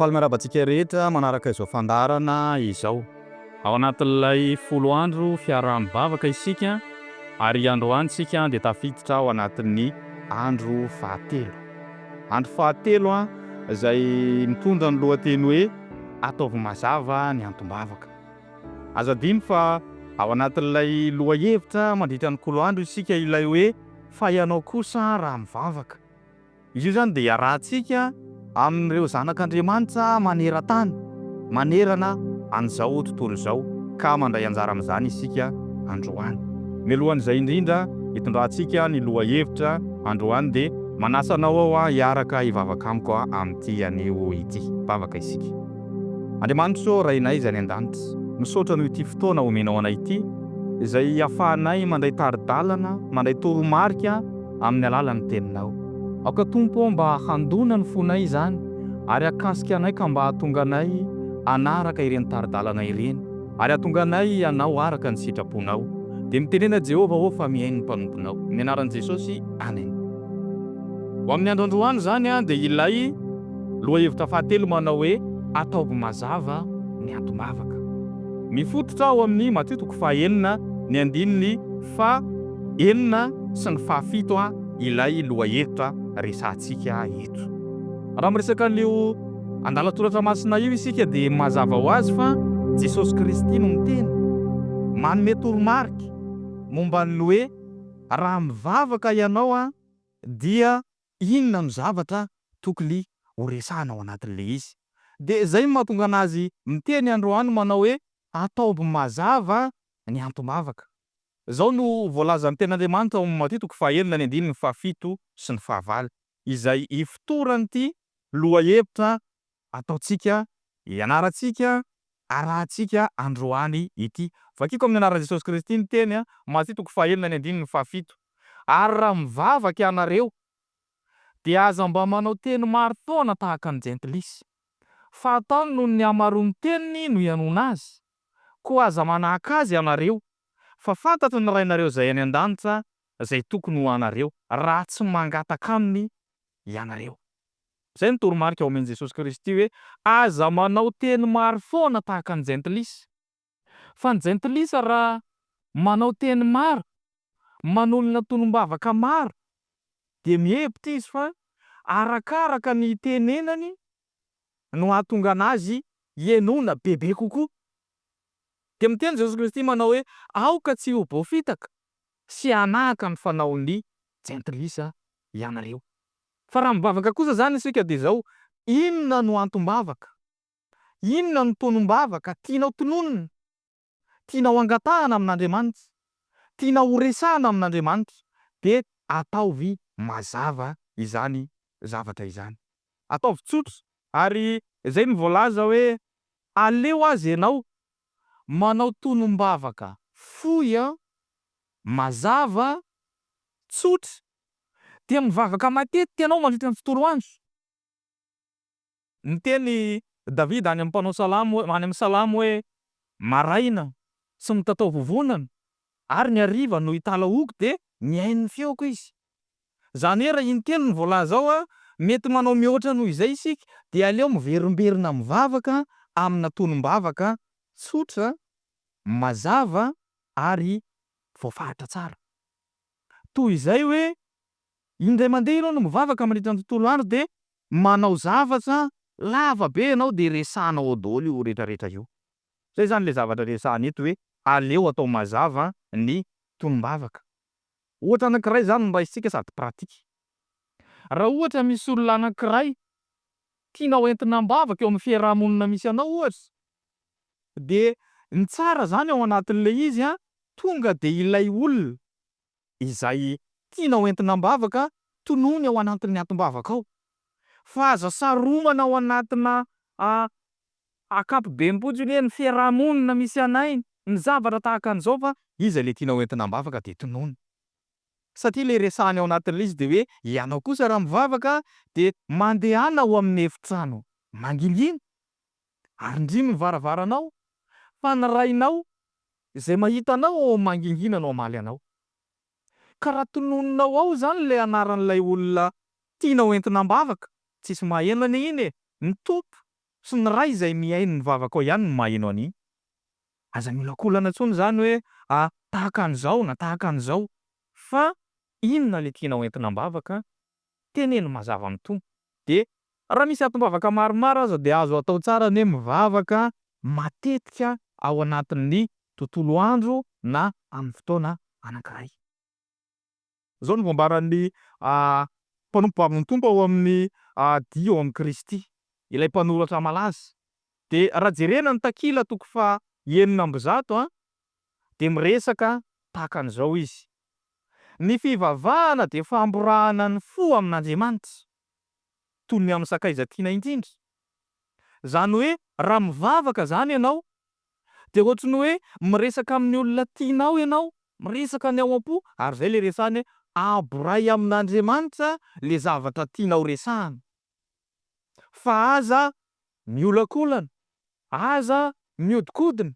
Faly miarahaba antsika rehetra manaraka izao fandaharana izao. Ao anatin'ilay folo andro fiaraha-mivavaka isika ary androany isika dia tafiditra ao anatin'ny andro fahatelo. Andro fahatelo izay mitondra ny lohateny hoe Ataovy Mazava ny Antom-bavaka. Aza adino fa ao anatin'ilay lohahevitra mandritra ny kolo andro isika ilay hoe. Fa ianao kosa raha mivavaka. Izy io izany dia iarahantsika amin'ireo zanak'Andriamanitra maneran-tany, manerana an'izao tontolo izao, ka mandray anjara amin'izany isika androany. Mialohan'izay indrindra hitondrantsika ny lohahevitra androany dia manasa anao aho hiaraka hivavaka amiko amin'ity anio ity. Hivavaka isika. Andriamanitro ô Rainay izay any an-danitra, misaotra noho ity fotoana omenao anay ity izay ahafahanay mandray tari-dalana, mandray toromarika amin'ny alalan'ny Teninao. Aoka Tompo ô mba handona ny fonay izany ary hakasika anay ka mba hahatonga anay hanaraka ireny tari-dalana ireny ary hahatonga anay hanao araka ny sitraponao. Dia mitenena Jehovah ô fa mihaino ny mpanomponao. Amin'ny anaran'i Jesosy, Amen. Ho amin'ny andro androany izany dia ilay. Lohahevitra fahatelo manao hoe Ataovy mazava ny antom-bavaka. Mifototra ao amin'ny Matio toko fahenina ny andininy fahenina sy ny fahafito ilay lohahevitra resahantsika eto. Raha miresaka an'io andalan-toratra masina io isika dia mazava ho azy fa Jesosy Kristy no miteny, manome toromarika momba ny hoe raha mivavaka ianao dia Inona no zavatra tokony horesahana ao anatin'ilay izy? Dia izay no mahatonga an'azy miteny androany manao hoe, Ataovy mazava ny antom-bavaka. Izao no voalazan'ny Tenin'Andriamanitra ao amin'ny Matio toko fahenina ny andininy fahafito sy ny fahavalo, izay ifotoran'ity lohahevitra ataontsika, ianarantsika, arahintsika androany ity. Vakiko amin'ny anaran'i Jesosy Kristy ny teny, Matia toko fahaenina ny andininy fahafito, Ary raha mivavaka ianareo, dia aza mba manao teny maro foana tahaka ny jentilisa, fa ataony noho ny hamaroan'ny teniny no ianoana azy, koa aza manahaka azy ianareo, fa fantatry ny Rainareo izay any an-danitra izay tokony ho anareo, raha tsy mangataka aminy ianareo. Izay no toromarika omen'i Jesosy Kristy hoe, Aza manao teny maro foana tahaka ny jentilisa. Fa ny jentilisa raha manao teny maro, manolona tonom-bavaka maro, dia mihevitra izy fa arakaraka ny itenenany no hahatonga anazy hienoana bebe kokoa. Dia miteny Jesosy Kristy manao hoe, Aoka tsy ho voafitaka sy hanahaka ny fanaon'ny jentilisa ianareo. Fa raha mivavaka kosa izany isika dia izao, inona no antom-bavaka? Inona no tonom-bavaka tianao tononina? Tianao angatahana amin'Andriamanitra? Tianao horesahana amin'Andriamanitra? Dia ataovy mazava izany zavatra izany. Ataovy tsotra. Ary izay no voalaza hoe, Aleo aza ianao manao tonom-bavaka fohy, mazava, tsotra, dia mivavaka matetika ianao mandritra ny tontolo andro. Niteny Davida any amin'ny mpanao salamo, any amin'ny salamo hoe, Maraina tsy mitatao vovonana, ary ny hariva no italahoako dia mihaino ny feoko izy. Izany hoe raha intelo ny voalaza ao, mety manao mihoatra noho izay isika, dia aleo miverimberina mivavaka amina tonom-bavaka tsotra, mazava ary voafaritra tsara. toy izay hoe indray mandeha ianao no mivavaka mandritra ny tontolo andro dia manao zavatra lava be ianao dia resahanao ao daholo io retraretra io. Izay izany ilay zavatra resahana eto hoe aleo atao mazava ny tonom-bavaka. Ohatra anankiray izany no raisintsika sady pratique. Raha ohatra misy olona anankiray tianao entina am-bavaka eo amin'ny fiaraha-monina misy anao ohatra dia ny tsara zany ao anatin'ilay izy an, tonga dia ilay olona izay tianao entina am-bavaka tonony ao anatin'ny atim-bavaka ao, fa aza saromana ao anatina ankapobeny fotsiny hoe ny fiaraha-monina misy anay ny zavatra tahaka an'izao fa iza ilay tianao entina am-bavaka dia tonony. Satria ilay resahany ao anatin'ilay izy dia hoe ianao kosa raha mivavaka dia mandehana ao amin'ny efitrano mangingina Arindrino ny varavaranao, fa ny Rainao izay mahita anao ao mangingina no hamaly anao. Ka raha tononinao ao izany ilay anaran'ilay olona tianao entina am-bavaka, tsisy maheno anie iny e! Ny Tompo sy ny Ray izay mihaino ny vavakao ihany no maheno an'iny. Aza miolakolana intsony izany hoe a tahaka an'izao na tahaka an'izao, fa inona ilay tianao entina am-bavaka, Teneno mazava amin'ny Tompo. Dia raha misy atim-bavaka maromaro aza dia azo atao tsara ny hoe mivavaka matetika ao anatin'ny tontolo andro na amin'ny fotoana anankiray. Izao no voambaran'ny mpanompo bavin'ny Tompo ao amin'ny dihy ao amin'i Kristy, ilay mpanoratra malaza. Dia raha jerena ny takila toko faha enina amby zato dia miresaka tahaka an'izao izy, Ny fivavahana dia famborahana ny fo amin'Andriamanitra, toy ny amin'ny sakaiza tiana indrindra. Izany hoe raha mivavaka izany ianao, dia ohatry ny hoe miresaka amin'ny olona tianao ianao, miresaka ny ao am-po, ary izay ilay resahany hoe aboray amin'Andriamanitra ilay zavatra tianao resahana. fa aza miolakolana, aza mihodinkodina,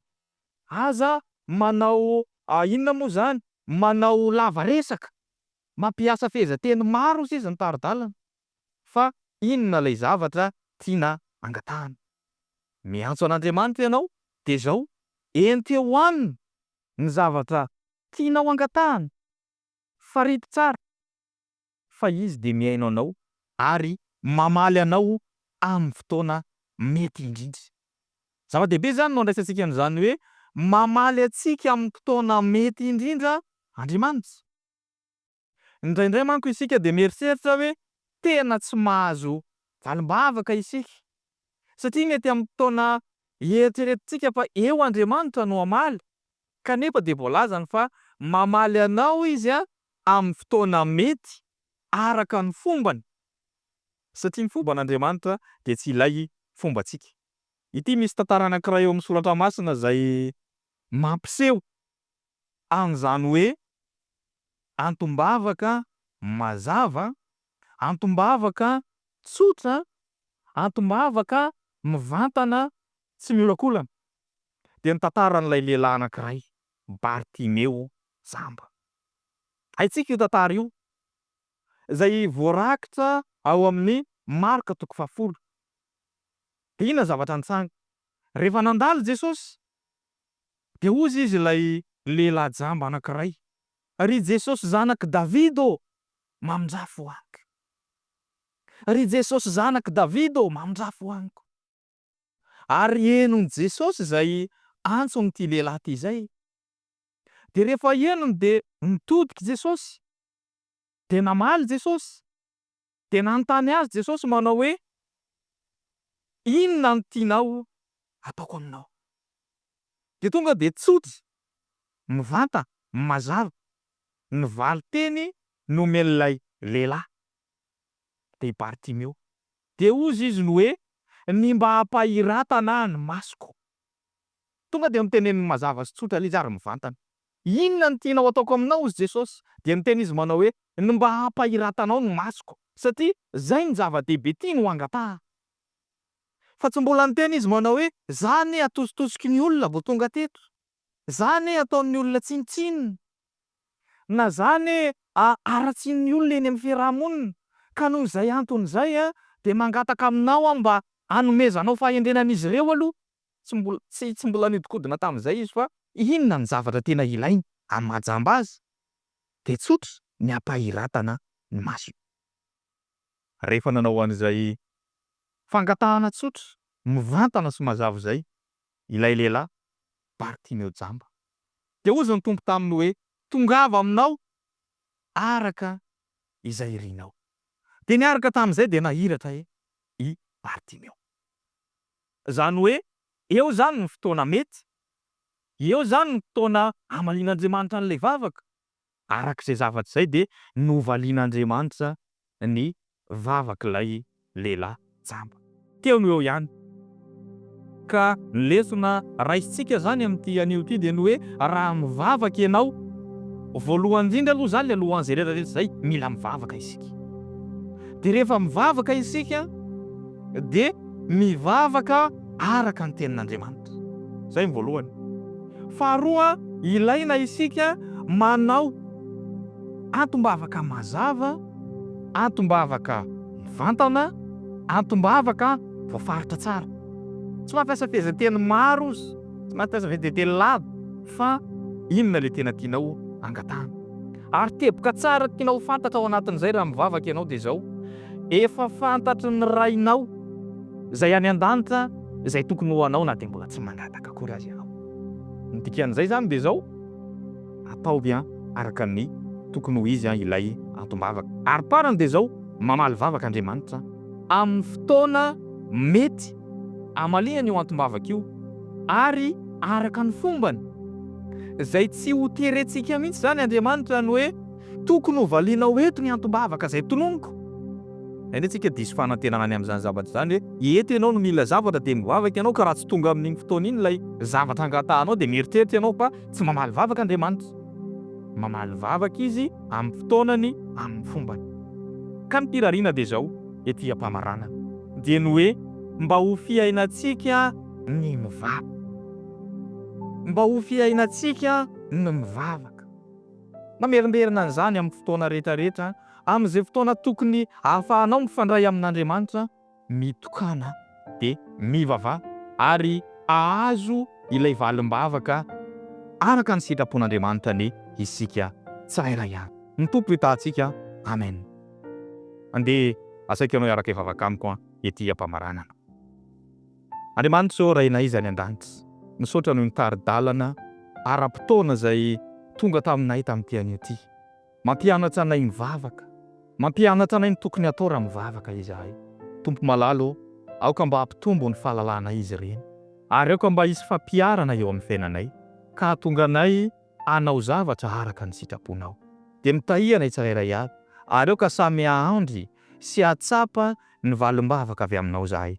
aza manao inona moa izany, manao lava resaka, mampiasa fehezanteny maro sisa ny tari-dalana, fa inona ilay zavatra tiana angatahana. Miantso an'Andriamanitra ianao dia izao, enteo aminy ny zavatra tianao angatahana, farito tsara. fa Izy dia mihaino anao ary mamaly anao amin'ny fotoana mety indrindra. Zava-dehibe izany no andraisantsika an'izany hoe mamaly antsika amin'ny fotoana mety indrindra Andriamanitra. Indraindray manko isika dia mieritreritra hoe tena tsy mahazo valim-bavaka isika satria mety amin'ny fotoana ieritreretintsika fa eo Andriamanitra no hamaly, kanefa dia voalazany fa mamaly anao Izy amin'ny fotoana mety araka ny fombany, satria ny fomban'Andriamanitra dia tsy ilay fombantsika. Ity misy tantara anankiray eo amin'ny soratra masina izay mampiseho an'izany hoe antom-bavaka mazava, antom-bavaka tsotra, antom-bavaka mivantana tsy miolakolana, dia ny tantaran'ilay lehilahy anankiray, Bartimeo jamba. Haintsika io tantara io, izay voarakitra ao amin'ny Marka toko fahafolo. Dia inona ny zavatra nitranga? Rehefa nandalo Jesosy, Dia hozy izy ilay lehilahy jamba anankiray, Ry Jesosy zanak'i David ô, mamindrafo amiko. Ry Jesosy zanak'i David ô, mamindrafo amiko. Ary henon'i Jesosy izay antson'ity lehilahy ity izay. Dia rehefa henony dia nitodika Jesosy. Dia namaly Jesosy. Dia nanontany azy Jesosy manao hoe, Inona no tianao hataoko aminao? Dia tonga dia tsotra, mivanta, mazava ny valin-teny nomen'ilay lehilahy. Dia i Bartimeo. Dia hozy izy ny hoe, Ny mba hampahiratana ny masoko. Tonga dia noteneniny mazava sy tsotra ilay izy ary mivantana. Inona no tianao hataoko aminao, hozy Jesosy? Dia niteny izy manao hoe, Ny mba hampahiratanao ny masoko. Satria izay no zava-dehibe tiany ho angataha. Fa tsy mbola niteny izy manao hoe, Za anie atositosiky ny olona vao tonga teto. Za anie ataon'ny olona tsinontsinona. Na zany a haratsian'ny olona eny amin'ny fiaraha-monina ka noho izay antony izay a dia mangataka aminao aho mba hanomezanao fahendrena an'izy ireo aloha. Tsy mbola, tsy, tsy mbola nihodinkodina tamin'izay izy fa. Inona no zavatra tena ilainy amin'ny maha jamba azy? Dia tsotra ny hampahiratana ny masony. Rehefa nanao an'izay fangatahana tsotra, mivantana sy mazava izay, ilay lehilahy, Bartimeo jamba. Dia hozy ny Tompo taminy hoe, Tongava aminao araka izay irinao. Dia niaraka tamin'izay dia nahiratra e! i Bartimeo. Izany hoe, eo izany ny fotoana mety, eo izany ny fotoana hamalian'Andriamanitra an'ilay vavaka. Araka izay zavatra izay dia novalian'Andriamanitra ny vavak'ilay lehilahy jamba. Teo no eo ihany. Ka ny lesona raisintsika izany amin'ity anio ity dia ny hoe raha mivavaka ianao, voalohany indrindra aloha izany ny alohan'izay rehetra rehetra izay, mila mivavaka isika. Dia rehefa mivavaka isika dia mivavaka. araka ny Tenin'Andriamanitra. Izay ny voalohany. Faharoa, ilaina isika manao antom-bavaka mazava, antom-bavaka mivantana, antom-bavaka voafaritra tsara. Tsy mampiasa fehezanteny maro izy, tsy mampiasa fehezanteny lava fa inona ilay tena tianao angatahana. Ary teboka tsara tianao ho fantatra ao anatin'izay raha mivavaka ianao dia izao, Efa fantatry ny Rainao Izay any an-danitra izay tokony ho anao na dia mbola tsy mangataka akory aza ianao. Ny dikan'izay izany dia izao, ataovy an araka ny tokony ho izy an ilay antom-bavaka. Ary parany dia izao, mamaly vavaka Andriamanitra amin'ny fotoana mety amaliany io antom-bavaka io ary araka ny fombany. Izay tsy ho terentsika mihitsy izany Andriamanitra ny hoe Tokony ho valianao eto ny antom-bavaka izay tononiko. Any antsika diso fanantenana any amin'izany zavatra izany hoe eto ianao no mila zavatra dia mivavaka ianao ka raha tsy tonga amin'iny fotoana iny ilay zavatra angatahanao dia mieritreritra ianao fa tsy mamaly vavaka Andriamanitra. Mamaly vavaka Izy amin'ny fotoanany, amin'ny fombany. Ka ny firariana dia izao ety am-pamaranana dia ny hoe mba ho fiainantsika ny mivavaka. Mba ho fiainantsika ny mivavaka. Mamerimberina an'izany amin'ny fotoana rehetrarehetra, amin'izay fotoana tokony ahafahanao mifandray amin'Andriamanitra, mitokana dia mivavaha ary hahazo ilay valim-bavaka araka ny sitrapon'Andriamanitra anie isika tsirairay avy. Ny Tompo hitahantsika. Amen. Andeha asaiko ianao hiaraka hivavaka amiko ety am-pamaranana. Andriamanitra ô Rainay izay any an-danitra, misaotra noho ny tari-dalana ara-potoana izay tonga taminay tamin'ity anio ity. Mampianatra anay mivavaka. Mampianatra anay ny tokony hatao raha mivavaka izahay. Tompo malala ô, aoka mba hampitombo ny fahalalanay izy ireny. Ary aoka mba hisy fampiharana eo amin'ny fiainanay ka hahatonga anay hanao zavatra araka ny sitraponao. Dia mitahia anay tsirairay avy, ary aoka samy hahandry sy hahatsapa ny valim-bavaka avy aminao izahay.